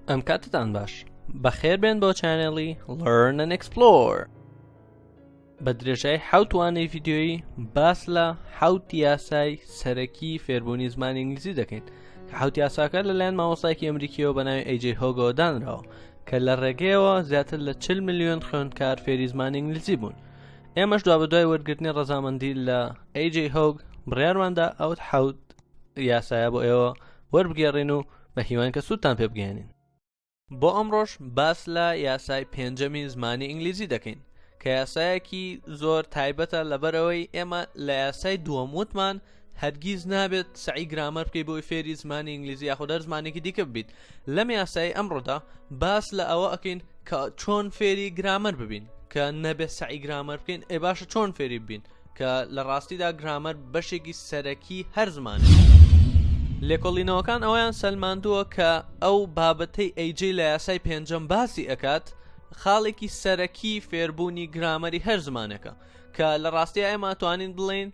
ئەم کاتتان باش بەخێر بێن بۆ چانێڵی لەرنن ئەکسپلۆر بە درێژای حوتوانەی یددیۆیی باس لە حوت یاسای سەرەکی فێربوونی زمانی ئینگلیزی دەکەین حوت یاساکە لەلایەن مامۆستایکی ئەمریکیەوە بە ناوی ئەیجێ هۆگەوە دانراوە کە لە ڕێگەیەوە زیاتر لە 40 میلیۆن خوێندکار فێری زمانی ئینگلیزی بوون ئێمەش دوا بە دوای وەرگرتنی ڕەزامەندی لە ئەیجێ هۆگ بڕیارماندا ئەوت حوت یاسایە بۆ ئێوە وەربگێڕین و بە هیوان کە سوودتان پێ بگەێنین بۆ ئەمڕۆش باس لە یاسای پێنجەمی زمانی ئینگلیزی دەکەین کە یاسایەکی زۆر تایبەتە لەبەرەوەی ئێمە لە یاسای دووەم وتمان هەرگیز نابێت سعی گرامەر بکەی بۆی فێری زمانی ئینگلیزی یاخۆ دەر زمانێکی دیکە ببیت لەم یاسایی ئەمڕۆدا باس لە ئەوە ئەکەین کە چۆن فێری گرامەر ببین کە نەبێت سعی گرامەر بکەین ئێ باشە چۆن فێری ببین کە لە ڕاستیدا گرامەر بەشێکی سەرەکی هەر زمانێک لێکۆڵینەوەکان ئەویان سەلماندووە کە ئەو بابەتەی ئەیجی لە یاسای پێنجەم باسی ئەکات خاڵێکی سەرەکی فێربوونی گرامەری هەر زمانەکە کە لە ڕاستی ئێمە توانین بڵین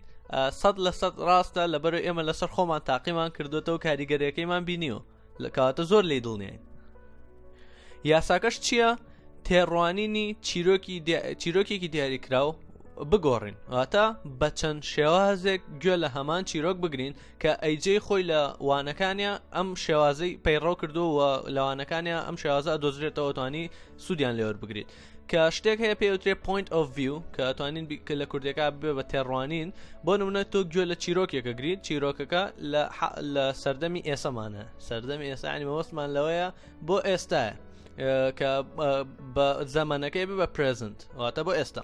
سەد لە سەد ڕاستە لەبەر ئێمە لەسەر خۆمان تاقیمان کردوێتەوە کاریگەرەکەیمان بینیوە لە کاتە زۆر لی دڵنیین یاساکەش چییە تێڕوانینی چیرۆکی چیرۆکێکی دیاریکراو بگۆڕین واتە بە چەند شێوازێک گوێ لە هەمان چیرۆک بگرین کە ئەیجێ خۆی لە وانەکانە ئەم شێوازەی پەیڕەو کردو و لەوانەکانە ئەم شێوازە دۆزرێتەوە توانی سوودیان لێوەر بگریت کە شتێک هەیە پێوترێ پوینت ئۆف ڤیو کە توانین کە لە کوردەکە بێ بە تێڕوانین بۆ نمونە تۆ گوێ لە چیرۆکێکە گریت چیرۆکەکە لە سەردەمی ئێسەمانە سەردەمی ئێسانی مەوەستمان لەوەیە بۆ ئێستاە کە بە زەمانەکەی بە پرزنت واتە بۆ ئێستا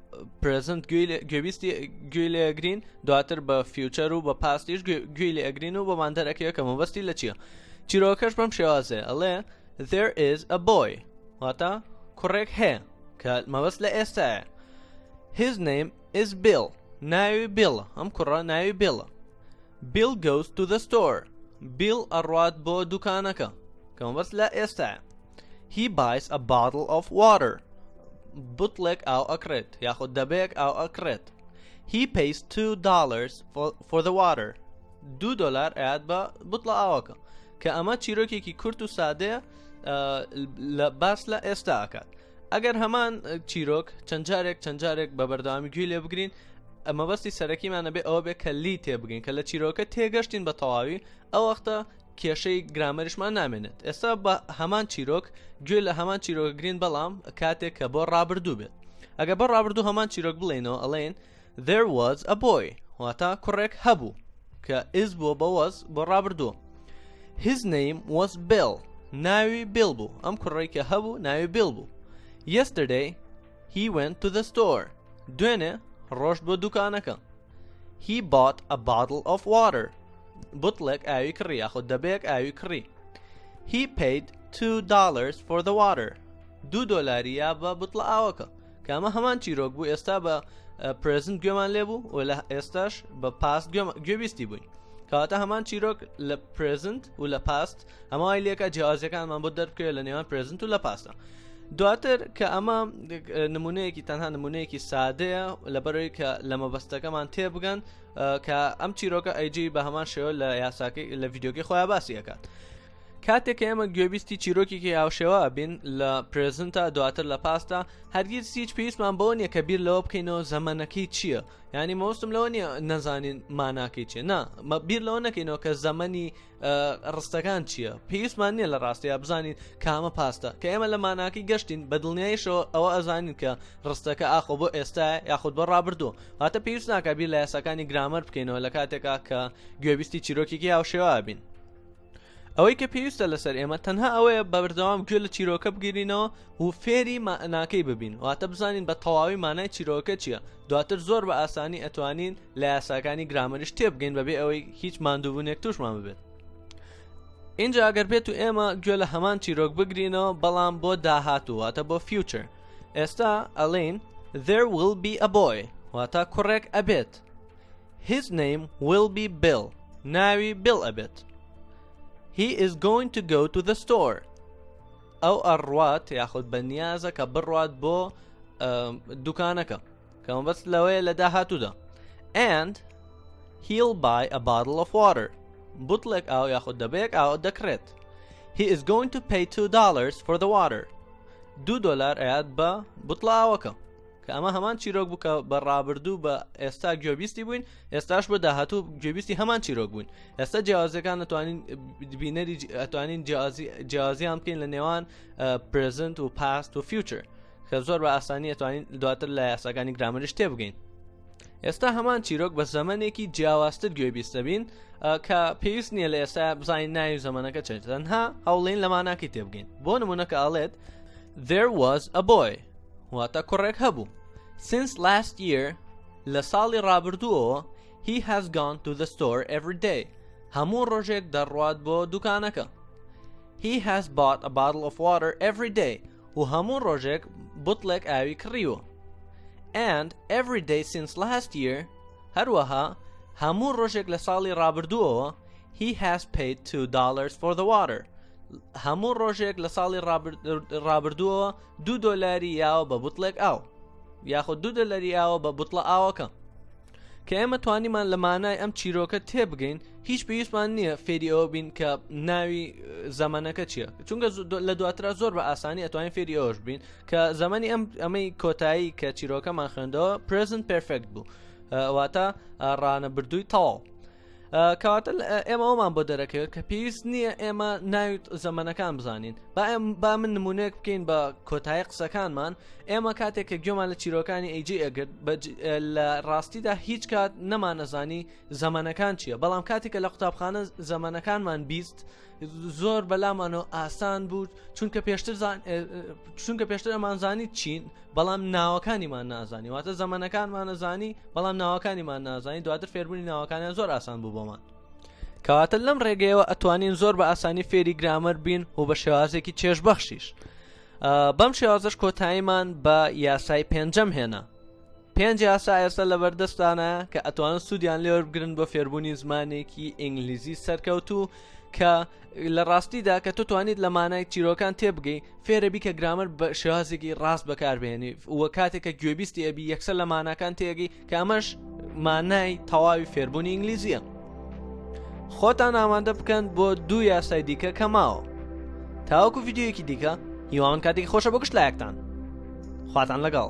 پرزنت گوێویستی گوێ لە گرین دواتر بە فیوچەر و بە پاستیش گوێ لە ئەگرین و بەمان دەرەکەیە کە مەبەستی لە چییە چیرۆکەش بەم شێوازێ ئەڵێ there is a boy واتە کوڕێک هەیە کە مەبەست لە ئێستاە his name is Bill ناوی بیڵ ئەم کوڕە ناوی بێڵە Bill goes to the store بیڵ ئەڕات بۆ دوکانەکە کەمەبەست لە ئێستاە He buys a bottle of water بوتڵێک ئاو ئەکڕێت یاخود دەبەیەک ئاو ئەکڕێت He pays two dollars for, for the water دوو دلار ئەیات بە بوتڵە ئاوەکە کە ئەمە چیرۆکێکی کورت و سادەیە لە باس لە ئێستا ئەکات ئەگەر هەمان چیرۆک چەند جارێک چەند جارێک بە بەردەوامی گوێ لێ بگرین ئەمەبەستی سەرەکیمانە بێ ئەوە بێ کە لی تێبگەین کە لە چیرۆکە تێگەشتین بە تەواوی ئەو وەختە کێشەی گرامەریشمان نامێنێت ئێستا بە هەمان چیرۆک گوێ لە هەمان چیرۆک گرین بەڵام کاتێک کە بۆ ڕابردوو بێت ئەگە بۆ ڕابردوو هەمان چیرۆک بڵێنەوە ئەڵێن there was a boy واتا کوڕێک هەبوو کە ئز بۆ بەوەز بۆ ڕابردوو his name was Bill ناوی بیل بوو ئەم کوڕێکە هەبوو ناوی بیل بوو yesterday he went to the store دوێنێ ڕۆشت بۆ دوکانەکە He bought a bottle of water. بوتڵێک ئاوی کڕی یاخۆ دەبێک ئاوی کڕی. He paid two dollars for the water. دوو دۆلاریا بە بوتڵە ئاوەکە. کامە هەمان چیرۆک بوو ئێستا بە پرزنت گوێمان لێبوو و لە ئێستاش بە پاست گوێبیستی بووین. کەواتە هەمان چیرۆک لە پرزنت و لە پاست ئەمە وای لێکە جیازەکانمان بۆ دەربکەوێت لە نێوان پرزنت و لە پاسدا دواتر کە ئەمە نمونەیەکی تەنها نمونەیەکی سادەیە لەبەرەوەی کە لە مەبەستەکەمان تێبگەن کە ئەم چیرۆکە ئەیجی بە هەمان شێوە لە یاساکەی لە یددیوگەی خۆیان باسی ئەکات کاتێک کە ئێمە گوێبیستی چیرۆکێکی هاوشێوە بین لە پرزنتا دواتر لە پاستا هەرگیز هیچ پێویستمان بۆ نیە کە بیر لەوە بکەینەوە زەمەنەکەی چییە؟ ینی مۆستم لەوە نیە نەزانین ماناکەی چێ نا بیر لەوە نەکەینەوە کە زەمەنی ڕستەکان چییە پێویستمان نییە لە ڕاستەیە بزانین کامە پاستە کە ئێمە لە ماناکی گەشتین بە دڵنیایشەوە ئەوە ئەزانین کە ڕستەکە ئاخۆ بۆ ئێستا یاخود بە ڕابردوو هاتە پێویست ناکە بیر لە یاساکانی گرامەر بکەینەوە لە کاتێکا کە گوێبیستی چیرۆکێکی هاوشێوا بین ئەوەی کە پێویستە لەسەر ئێمە تەنها ئەوەیە بە بەردەوام گوێ لە چیرۆکە بگیرینەوە و فێری ماناکەی ببین واتە بزانین بە تەواوی مانای چیرۆکە چییە دواتر زۆر بە ئاسانی ئەتوانین لە یاساکانی گرامەریش تێبگەین بەبێ ئەوەی هیچ ماندووبوونێک توشمان ببێت اینجا ئەگەر بێت و ئێمە گوێ لە هەمان چیرۆک بگرینەوە بەڵام بۆ داهاتوواتە بۆ فیوچر ئێستا ئەلین there will be a boy واتە کوڕێک ئەبێت his name will be Bill ناوی Bill ئەبێت he is going to go to the store ئەو ئەڕوات یاخود بە نیازە کە بڕوات بۆ دوکانەکە کەمەبەست لەوەیە لە داهاتوودا and he'll buy a bottle of water بوتڵێک ئاو یاخود دەبەیەک ئاو دەکرێت he is going to pay two dollars for the water دو دلار ئەیات بە بوتڵاوەکە کە ئەمە هەمان چیرۆک بکە بە ڕابردوو بە ئێستا گوێبیستی بووین ئێستاش بە داهاتوو گوێبیستی هەمان چیرۆک بووین ئێستا جیازەکان نتوانین بینەری ئەتوانین جیازیان بکەین لە نێوان پرزنت و پاست و فیوچر کە زۆر بە ئاسانی ئەتوانین دواتر لە یاساکانی گرامەرش تێ بگەین ئێستا هەمان چیرۆک بە زەمنێکی جیاوازتر گوێ بیستەبین کە پێویست نییە لە ئێستا بزانین ناوی زەمانەکە چێت تەنها هەوڵین لە ماناکەی تێبگەین بۆ نمونونەکە ئاڵێت there was a boy واتە کوڕێک هەبوو since last year لە ساڵی ڕابردووەوە he has gone to the store every day هەموو ڕۆژێک دەڕوات بۆ دوکانەکە he has bought a bottle of water every day و هەموو ڕۆژێک بوتڵێک ئاوی کڕیوە and every day since last year هەروەها هەموو ڕۆژێک لە ساڵی ڕابردووەوە he has paid two dollars for the water هەموو ڕۆژێک لە ساڵی ڕابردووەوە دو دۆلاری یاوە بە بوتڵێک ئاو یاخود دو دۆلاری ئاوە بە بوتڵە ئاوەکە کە ئێمە توانیمان لە مانای ئەم چیرۆکە تێبگەین هیچ پێویستمان نییە فێری ئەوە بین کە ناوی زەمانەکە چییە چونگە لە دواترا زۆر بە ئاسانی ئەتوانین فێری ئەوش بین کە زەمەنی ئەم ئەمەی کۆتایی کە چیرۆکەمان خوێندەوە پرزنت پرفکت بوو واتە ڕانە بردووی تەواو کەواتە ئێمە ئەومان بۆ دەرەکەوێت کە پێویست نییە ئێمە ناوی زەمەنەکان بزانین با ئەم با من نمونونێک بکەین بە کۆتایی قسەکانمان ئێمە کاتێک کە گوێمان لە چیرۆکانی ئەیجی ئەگرت لە ڕاستیدا هیچ کات نەمانەزانی زەمەنەکان چییە بەڵام کاتێکە لە قوتابخانە زەمەنەکانمان بیست زۆر بەلامانەوە ئاسان بوو چونکە پێشتر چونکە پێشتر ئەمانزانی چین بەڵام ناوەکانیمان نازانی واتە زەمەنەکانمانەزانی بەڵام ناوەکانیمان نازانی دواتر فێربوونی ناوەکانیان زۆر ئاسان بوو بۆمان کەواتە لەم ڕێگەیەوە ئەتوانین زۆر بە ئاسانی فێری گرامەر بین و بە شێوازێکی چێژبەخشیش بەم شێوازش کۆتاییمان بە یاسای پێنجەم هێنا پێنج یاسا ئێستا لەبەردەستتانە کە ئەتوانن سوودیان لێوەربگرن بۆ فێربوونی زمانێکی ئینگلیزی سەرکەوتوو کە لە ڕاستیدا کە تو توانیت لە مانای چیرۆکان تێبگەی فێرەبی کە گرامەر بە شێوازێکی ڕاست بەکاربێنی و کاتێک کە گوێبیستی ئەبی یەکسەر لە ماناکان تێگەی کە ئەمەش مانای تەواوی فێربوونی ئینگلیزیە. خۆتان ئامادە بکەن بۆ دوو یاسای دیکە کە ماوە تاوەکو یددیوەکی دیکە هیواون کاتێکی خۆشە بە گشت لایەکتان خواتان لەگەڵ